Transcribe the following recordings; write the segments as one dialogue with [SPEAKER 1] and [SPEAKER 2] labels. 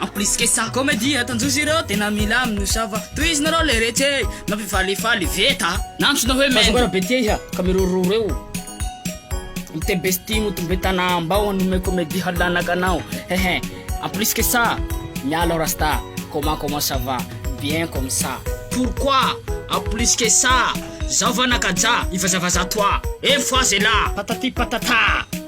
[SPEAKER 1] En plus que ça, comedie ataon-josy ireo tena mila amin'ny osava, tohizina reo le retsy e! Mampifalifaly veta! Nantsoina hoe Mendo. Azafady be tia iha ka miroro reo Ny te bestie motombe tana Ambao hanome comedie halanaka anao hehe En plus que ça, miala aho rasta Comment comment ça va? Bien comme ça Pourquoi? En plus que ça, Zao va nakajà, ivazavaza toi Une fois c'est là! Patati patata!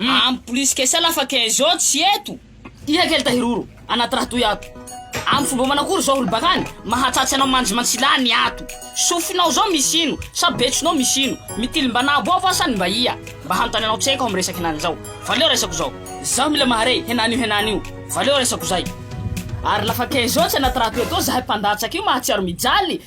[SPEAKER 1] En plus que ça lafa quinze ans tsy eto. Iha kely tahiroro anaty raha toy ato. Amin'ny fomba manakory zao olo bakany mahatratsy anao mandry mantsilany ny ato. Sofinao zao misy ino sa betsonao misy ino. Mitily mba nabo aho va sa ny mba ia. Mba hanontany anao tsy haiko amin'ny resaka henany zao. Valeo resako zao. Zaho mila mahare henany io henany io. Valeo resako zay. Ary lafa quinze ans tsy anaty raha toy atoa zahay mpandatsaka io mahatsiaro mijaly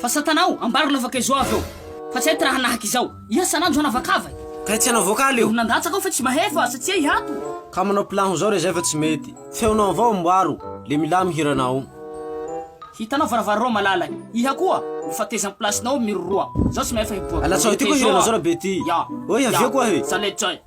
[SPEAKER 1] Fa satana o, ambaro lavaka izao avy eo. Fa tsy hay ty raha nahaka izao. Iha san'andro hanavakava e. Kay tsy hanao voakaly
[SPEAKER 2] eo. Eo nandatsaka ao fa tsy mahay fa
[SPEAKER 1] asa tsy hay ato. Ka manao pilanho
[SPEAKER 2] zao re zay fa tsy mety. Feonao avao amboaro, le milamy hiranao.
[SPEAKER 1] Hitanao varavara roa malala e. Iha koa, mifateza am-plasinao miroroa. Zao tsy mahay fa hiboaka. Alatsaho ity koa hiranao zao rabe
[SPEAKER 2] ty. Oy avia koa e.